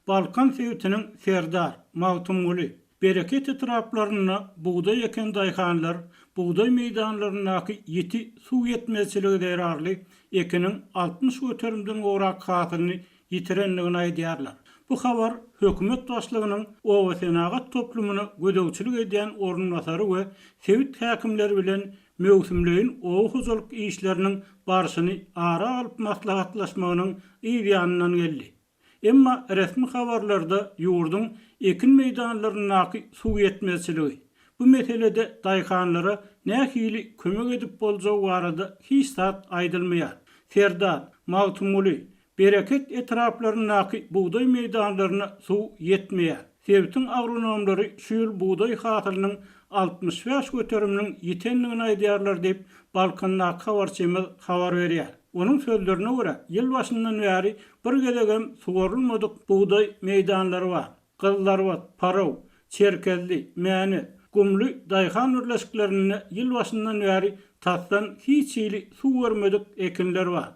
Balkan sebitiniň Serdar, Magtymguly, Bereket etraplarynda bugdaý eken daýhanlar bugdaý meýdanlaryndaky ýiti suw ýetmezçiligi zerarly ekiniň altmyş göterimden gowrak hasylyny ýitirendigini aýdýarlar. Bu habar hökümet başlygynyň obasenagat toplumyna gözegçilik edýän orunbasary we sebit häkimleri bilen möwsümleýin oba hojalyk işleriniň barşyny ara alyp maslahatlaşmagynyň yz ýanyndan geldi. Emma resmi habarlarda ýurduň ekin meýdanlaryndaky suw ýetmezçiligi, bu meselede daýhanlara nähili kömek edip boljagy barada hiç zat aýdylmaýar. Serdar, Magtymguly, Bereket etraplaryndaky bugdaý meýdanlaryna suw ýetmeýär. Sebitiň agronomlary şu ýyl bugdaý hasylynyň altmyş bäş göteriminiň ýitendigini aýdýarlar diýip, Balkandaky habarçymyz habar berýär. Onuň sözlerine görä, ýyl başyndan bäri bir gezek hem suwarylmadyk bugdaý meýdanlary bar. Gyzlarbat, Paraw, Çerkezli, Mäne, Gumly daýhan birleşiklerinde ýyl başyndan bäri tasdan hiç hili suw görmedik ekinler bar.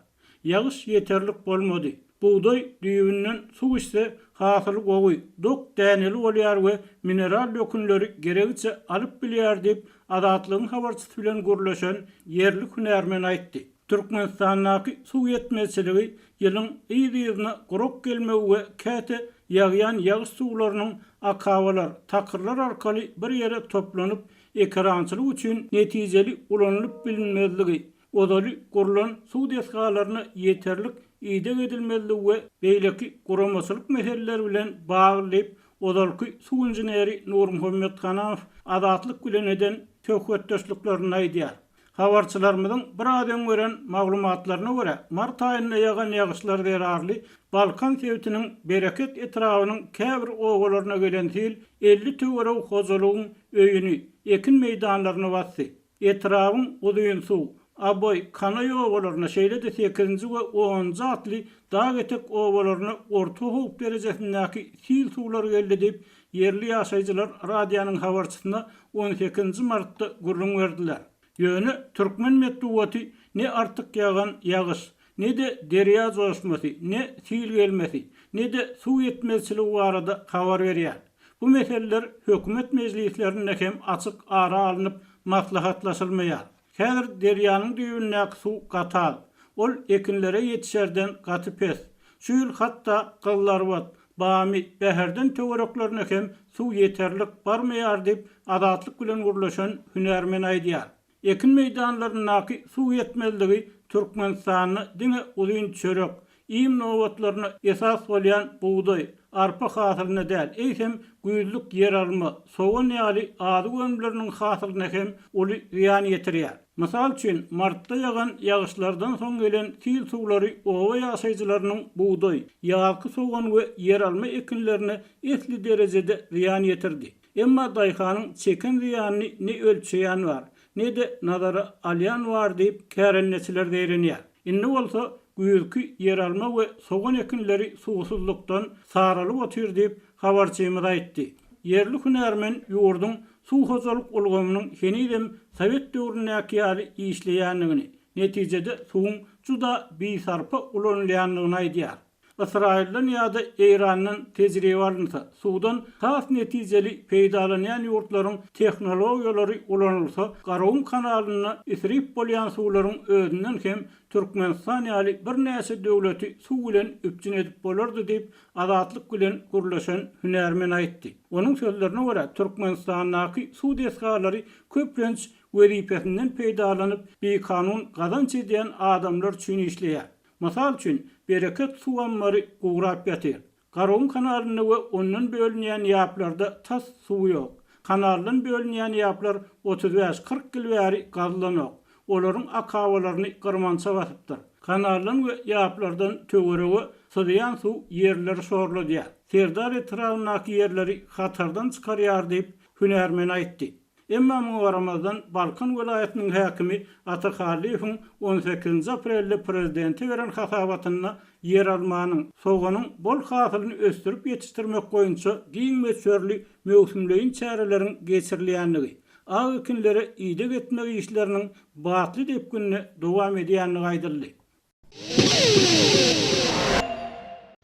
Ýagyş ýeterlik bolmady. Bugdaý düýbünden suw içse, hasyly gowy, dok däneli bolýar we mineral dökünleri geregiçe alyp bilýär diýip, Azatlygyň habarçysy bilen gürleşen ýerli hünärmen aýtdy. Türkmenistandaky suw ýetmezçiligi ýylyň yz-yzyna gurak gelmegi we käte ýagýan ýagyş suwlarynyň akabalar, takyrlar arkaly bir ýere toplanyp, ekerançylyk üçin netijeli ulanylyp bilinmezligi, ozaly gurlan suw desgalaryna ýeterlik ideg edilmezligi we beýleki guramaçylyk meseleleri bilen bagly diýip, ozalky suw inženeri Nurmuhammet Hanow Azatlyk bilen eden söhbetdeşliklerinde aýdýar. Habarçylarymyzyň biraz öň beren maglumatlaryna görä, mart aýynda ýagan ýagyşlar zerarly Balkan sebitiniň Bereket etrabynyň käbir obalaryna gelen sil elli töweregi hojalygyň öýüni, ekin meýdanlaryny basdy. Etrabyň Uzynsuw, Abaý, Kanaý obalaryna, şeýle-de Sekizinji we Onunjy atly dag etek obalaryna orta howp derejesindäki sil suwlary geldi diýip, ýerli ýaşaýjylar radionyň habarçysyna on sekizinji martda gürrüň berdiler. Ýöne türkmen metbugaty ne artyk ýagan ýagyş, ne-de derýa joşmasy, ne sil gelmesi, ne-de suw ýetmezçiligi barada habar berýär. Bu meseleler hökümet mejlislerinde hem açyk ara alnyp maslahatlaşylmaýar. Häzir derýanyň düýbündäki suw gatal. Ol ekinlere ýetişerden gaty pes. Şu ýyl hatda gyzlarbat, bamy, bäherden töwereklerine hem suw ýeterlik barmaýar diýip, Azatlyk bilen gürleşen hünärmen aýdýar. Ekin meýdanlaryndaky suw ýetmezligi Türkmenistanda diňe uzyn çörek, iým nobatlaryna esas bolýan bugdaý, arpa hasylyna däl, eýsem, güýzlük ýeralma, sogan ýaly azyk önümleriniň hasylyna hem uly zyýan ýetirýär. Mysal üçin, martda ýagan ýagyşlardan soň gelen sil suwlary oba ýaşaýjylarynyň bugdaý, ýazky sogan we ýeralma ekinlerine esli derejede zyýan ýetirdi. Emma daýhanyň çeken zyýanyny ne ölçeýän bar, ne-de nazara alýan bar diýip, kärendeçiler zeýrenýär. Indi bolsa güýzki ýeralma we sogan ekinleri suwsuzlykdan saralyp otyr diýip, habarçymyz aýtdy. Ýerli hünärmen ýurduň suw hojalyk ulgamynyň henizem sowet döwründäki ýaly işleýändigini, netijede suwuň juda bisarpa ulanylýandygyny aýdýar. Ysraýyldan ýa-da Eýrandan tejribe alynsa, suwdan has netijeli peýdalanýan ýurtlaryň tehnologiýalary ulanylsa, Garagum kanalynda isrip bolýan suwlaryň özünden hem Türkmenistan ýaly birnäçe döwleti suw bilen üpjün edip bolardy diýip, Azatlyk bilen gürleşen hünärmen aýtdy. Onuň sözlerine görä, Türkmenistandaky suw desgalary köplenç wezipesinden peýdalanyp, bikanun gazanç edýän adamlar üçin işleýär. Mysal üçin, Bereket suw ammary gurap ýatyr. Garagum kanalynda we ondan bölünýän ýaplarda tas suw ýok. Kanaldan bölünýän ýaplar otuz bäş, kyrk ýyl bäri gazylanok. Olaryň akabalaryny gyrmança basypdyr. Kanaldan we ýaplardan töwerege syzýan suw ýerleri şorladýar. Serdar etrabyndaky ýerleri hatardan çykarýar diýip, hünärmen aýtdy. Emma muňa garamazdan, Balkan welaýatynyň häkimi Ata Hallyýewiň on sekizinji aprelde prezidente beren hasabatynda ýeralmanyň, soganyň bol hasylyny ösdürip ýetişdirmek boýunça giň möçberli möwsümleýin çäreleriň geçirilýändigi, ak ekinlere ideg etmek işleriniň batly depginde dowam edýändigi aýdyldy.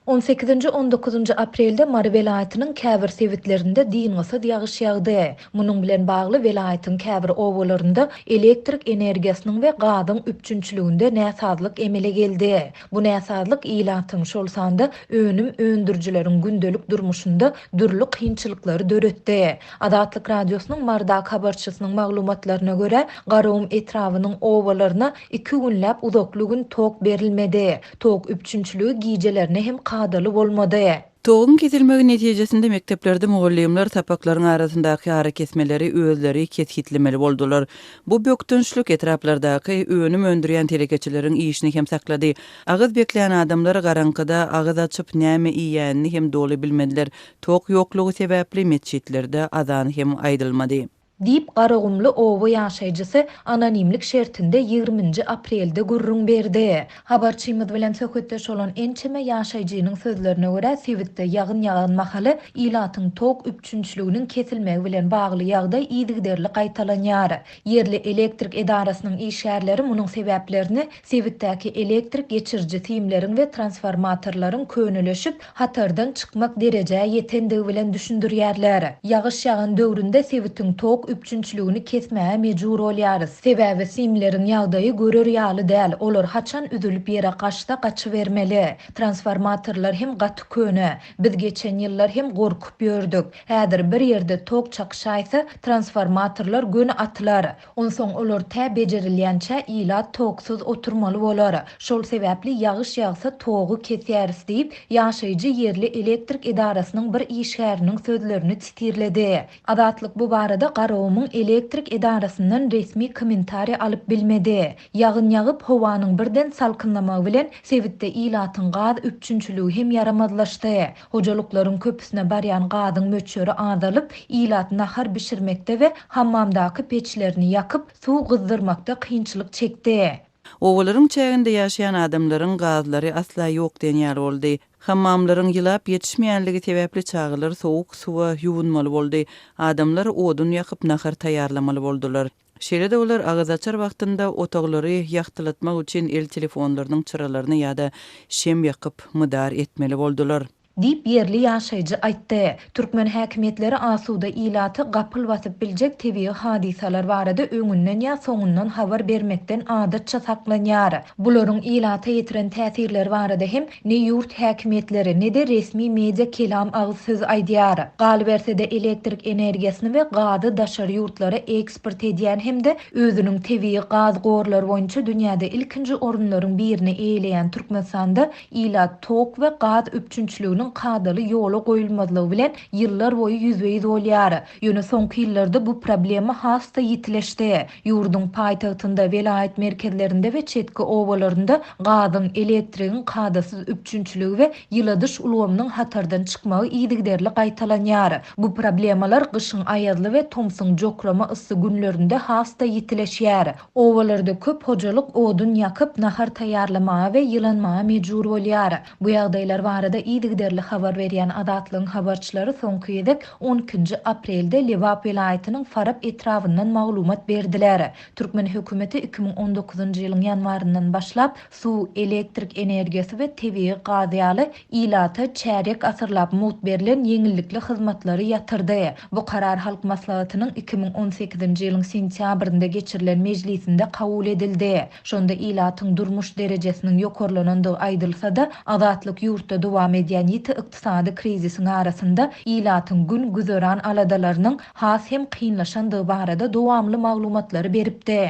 On sekizinji, on dokuzynjy aprelde Mary welaýatynyň käbir sebitlerinde dyngysyz ýagyş ýagdy. Munuň bilen bagly welaýatyň käbir obalarynda elektrik energiýasynyň we gazyň üpjünçiliginde näsazlyk emele geldi. Bu näsazlyk ilatyň, şol sanda önüm öndürijileriň gündelik durmuşynda dürli kynçylyklary döretdi. Azatlyk Radiosynyň Marydaky habarçysynyň maglumatlaryna görä, Garagum etrabynyň obalaryna Iki günläp uzakly gün tok berilmedi. Tok üpjünçiligi gijelerine hem kadaly bolmady. Toguň kesilmegi netijesinde mekdeplerde mugallymlar sapaklaryň arasyndaky arakesmeleri özleri kesgitlemeli boldular. Bu bökdençlik etraplardaky önüm öndürýän telekeçileriň işini hem saklady. Agyz beklän adamlar garaňkyda agyz açyp näme iýýänini hem doly bilmediler. Tok ýoklugy sebäpli metjitlerde azan hem aýdylmady. diýip, Garagumly oba ýaşaýjysy anonimlik şertinde ýigriminji aprelde gürrüň berdi. Habarçymyz bilen söhbetdeş bolan ençeme ýaşaýjynyň sözlerine görä, sebitde ýagyn ýagan mahaly ilatyň tok üpjünçiliginiň kesilmegi bilen bagly ýagdaý yzygiderli gaýtalanýar. Ýerli elektrik edarasynyň işgärleri munuň sebäplerini Sebitdäki elektrik geçiriji simleriň we transformatorlaryň köneleşip, hatardan çykmak derejä ýetendigi bilen düşündirýärler. Ýagyş ýagan döwründe sebitiň tok üpjünçiligini kesmäge mejbur bolýarys. Sebäbi simleriň ýagdaýy görer ýaly däl, olar haçan üzülip ýere gaçsa gaçybermeli. Transformatorlar hem gaty köne. Biz geçen ýyllar hem gorkup ýördük. Häzir bir ýerde tok çakyşaýsa, transformatorlar göni atylar. Onsoň olar tä bejerilýänçä ilat toksuz oturmaly bolar. Şol sebäpli ýagyş ýagsa togy kesýäris diýip, ýaşaýjy ýerli elektrik edarasynyň bir işgäriniň sözlerini titirledi. Azatlyk bu barada Garagumyň elektrik edarasyndan resmi kommentariý alyp bilmedi. Ýagyn ýagyp, howanyň birden salkynlamagy bilen sebitde ilatyň gaz üpjünçiligi hem ýaramazlaşdy. Hojalyklaryň köpüsine barýan gazyň möçberi azalyp, ilat nahar bişirmekde we hammamdaky peçlerini ýakyp, suw gyzdyrmakda kynçylyk çekdi. Obalaryň çäginde ýaşaýan adamlaryň gazlary asla ýok diýen ýaly boldy. Hammamlaryň ýylap ýetişmeýänligi sebäpli çagalar sowuk suwa ýuwunmaly boldy. Adamlar odun ýakyp nahar taýýarlamaly boldular. Şeýle-de olar agyz açar wagtynda otaglary ýagtylatmak üçin el telefonlarynyň çyralaryny ýa-da şem ýakyp, mydar etmeli boldular. Diýip, ýerli ýaşaýjy aýtdy. Türkmen häkimiýetleri asuda ilaty gapyl basyp biljek tebigy hadysalar barada öňünden ýa soňundan habar bermekden adatça saklanýar. Bularyň ilata ýetiren täsirleri barada hem Ne ýurt häkimiýetleri, ne-de resmi media kelam agyz söz aýdýar. Galyberse-de elektrik energiýasyny we gazy daşary ýurtlara eksport edýän hem-de özüniň tebigy gaz gorlary boýunça dünýäde ilkinji orunlaryň birini eýeleýän Türkmenistanda ilat tok we gaz üpjünçiliginiň kadaly ýola goýulmazlygy bilen ýyllar boýy ýüzbe-ýüz bolýar. Ýöne soňky ýyllarda bu problema has-da ýitileşdi. Ýurduň paýtagtynda, welaýat merkezlerinde we çetki obalarynda gazyň, elektrigiň kadasyz üpjünçiligi we ýyladyş ulgamynyň hatardan çykmagy yzygiderli gaýtalanýar. Bu problemalar gyşyň aýazly we tomsuň jokrama yssy günlerinde has-da ýitileşýär. Obalarda köp hojalyk odun ýakyp, nahar taýýarlamaga we ýylanmaga mejbur bolýar. Bu ýagdaýlar barada yzygiderli habar berýän Azatlygyň habarçylary soňky gezek on ikinji aprelde Lebap welaýatynyň Farap etrabyndan maglumat berdiler. Türkmen hökümeti iki müň on dokuzynjy ýylyň ýanwaryndan başlap suw, elektrik energiýasy we tebigy gaz ýaly ilata çärýek asyrlap mugt berlen ýeňillikli hyzmatlary ýatyrdy. Bu karar Halk Maslahatynyň iki müň on sekizinji ýylyň sentýabrynda geçirilen mejlisinde kabul edildi. Şonda ilatyň durmuş derejesiniň ýokarlanandygy aýdylsa-da, Azatlyk ýurtda dowam edýän ýiti ykdysady krizisiň arasynda ilatyň gün-güzeran aladalarynyň has hem kynlaşandygy barada dowamly maglumatlary beripdi.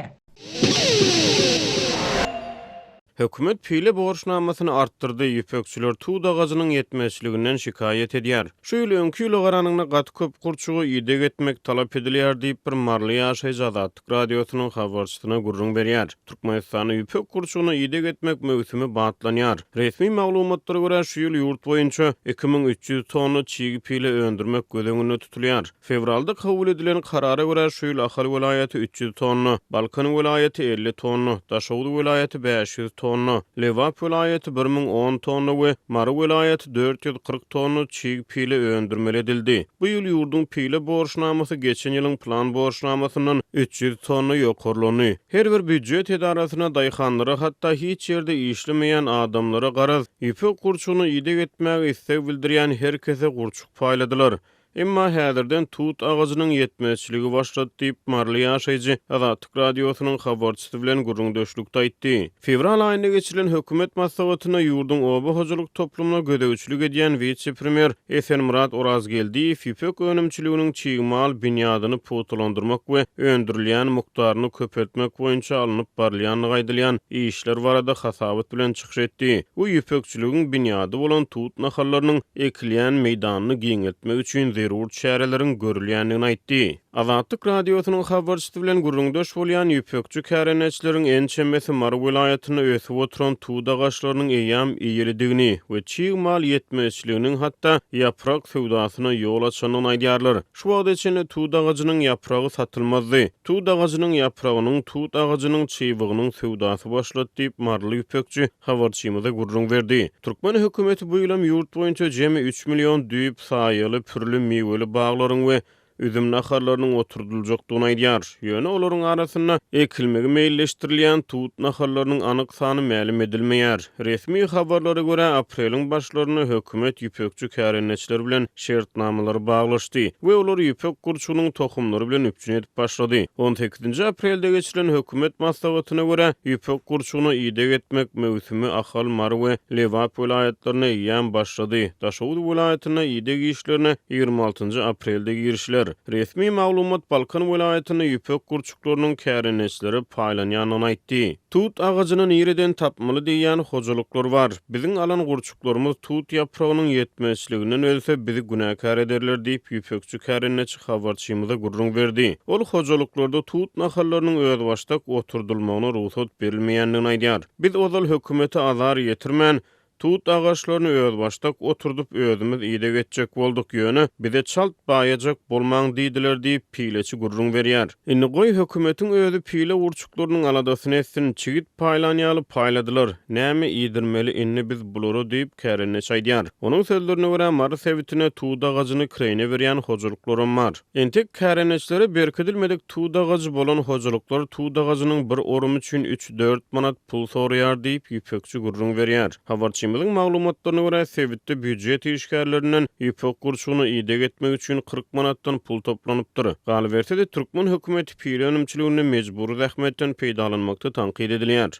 Hökümet pile borçnamasyny artdyrdy, ýüpekçiler tut agajynyň ýetmezçiliginden şikaýat edýär. Şu ýyl öňki ýyla garanyňda gaty köp gurçuga ideg etmek talap edilýär diýip, bir maryly ýaşaýjy Azatlyk. Azatlyk Radiosynyň habarçysyna gürrüň berýär. Türkmenistanda ýüpek gurçugyna ideg etmek möwsümi batlanýar. Resmi maglumatlara görä, şu ýyl ýurt boýunça iki müň üç ýüz tonna çig pile öndürmek göz öňünde tutulýar. Fewralda kabul edilen karara görä, şu ýyl Ahal welaýaty üç ýüz tonna, Balkan welaýaty elli tonna, Daşoguz welaýaty bäş ýüz tonna, Lebap welaýaty bir müň on tonna we Mary welaýaty dört ýüz kyrk tonna çig pile öndürmeli edildi. Bu ýyl ýurduň pile borçnamasy geçen ýylyň plan borçnamasyndan üç ýüz tonna ýokarlandy. Her bir býujet edarasyna, daýhanlara, hatda hiç ýerde işlemeýän adamlara garaz, ýüpek gurçugyna ideg etmäge isleg bildirýän her kese gurçuk paýladylar. Emma häzirden tut agajynyň ýetmezçiligi başlady diýip, maryly ýaşaýjy Azatlyk Radiosynyň habarçysy bilen gürrüňdeşlikde aýtdy. Fewral aýynda geçirilen hökümet maslahatynda ýurduň oba hojalyk toplumyna gözegçilik edýän wise-premýer Esenmyrat Orazgeldiýew ýüpek önümçiliginiň çig mal binýadyny pugtalandyrmak we öndürilýän mukdaryny köpeltmek boýunça alnyp barylýandygy aýdylýan işler barada hasabat bilen çykyş etdi we ýüpekçiligiň binýady bolan tut nahallarynyň ekilýän meýdanyny giňeltmek üçin zerur çäreleriň görülýändigini aýtdy. Azatlyk Radiosynyň habarçysy bilen gürrüňdeş bolýan ýüpekçi kärendeçileriň ençemesi Mary welaýatynda ösüp oturan tut agaçlarynyň eýýäm eýelidigini we çig mal ýetmezçiliginiň hatda ýaprak söwdasyna ýol açandygyny aýdýarlar. Şu wagta çenli tut agajynyň ýapragy satylmazdy. Tut agajynyň ýapragynyň tut agajynyň çybygynyň söwdasy başlady diýip, maryly ýüpekçi habarçymyza gürrüň berdi. Türkmen hökümeti bu ýylam ýurt boýunça jemi üç million düýp saýaly pürli miweli baglaryň we üzüm nahallarynyň oturdyljakdygyny aýdýar. Ýöne olaryň arasynda ekilmegi meýilleşdirilýän tut nahallarynyň anyk sany mälim edilmeýär. Resmi habarlara görä, apreliň başlarynda hökümet ýüpekçi kärendeçiler bilen şertnamalary baglaşdy we olary ýüpek gurçugynyň tohumlary bilen üpjün edip başlady. On sekizinji aprelde geçirilen hökümet maslahatyna görä, ýüpek gurçugyna ideg etmek möwsümi Ahal, Mary we Lebap welaýatlarynda eýýäm başlady. Daşoguz welaýatynda ideg işlerine Ýigrimi altynjy aprelde girişiler. Resmi maglumat Balkan welaýatynda ýüpek gurçuklarynyň kärendeçilere paýlanýandygyny aýtdy. Tut agajyny nireden tapmaly diýýän hojalyklar bar. Biziň alan gurçuklarymyz tut ýapragynyň ýetmezçiliginden ölse, bizi günäkär ederler diýip, ýüpekçi kärendeçi habarçymyza gürrüň berdi. Ol hojalyklarda tut nahallarynyň özbaşdak oturdylmagyna rugsat berilmeýändigini aýdýar. Biz ozal hökümete azar ýetirmän, Tut agaçlaryny özbaşdak oturdyp, özümiz ideg etjek bolduk, ýöne bize çalt baýajak bolmaň diýdiler diýip, pileçi gürrüň berýär. Indi goý, hökümetiň özi pile gurçuklarynyň aladasyny etsin, çigit paýlan ýaly paýladylar, näme iýdirmeli indi biz bulara diýip, kärendeçi aýdýar. Onuň sözlerine görä, Mary sebitinde tut agajyny kireýine berýän hojalyklaram bar. Entek kärendeçlere berkidilmedik tut agajy bolan hojalyklar tut agajynyň bir orumy üçin üç-dört manat pul soraýar diýip, Ýüpekçi gürrüň berýär. Habarçymyzyň maglumatlaryna görä, sebitde býujet işgärlerinden ýüpek gurçugyna ideg etmek üçin kyrk manatdan pul toplanypdyr. Galyberse-de, türkmen hökümeti pile önümçiliginde mejbury zähmetden peýdalanmakda tankyt edilýär.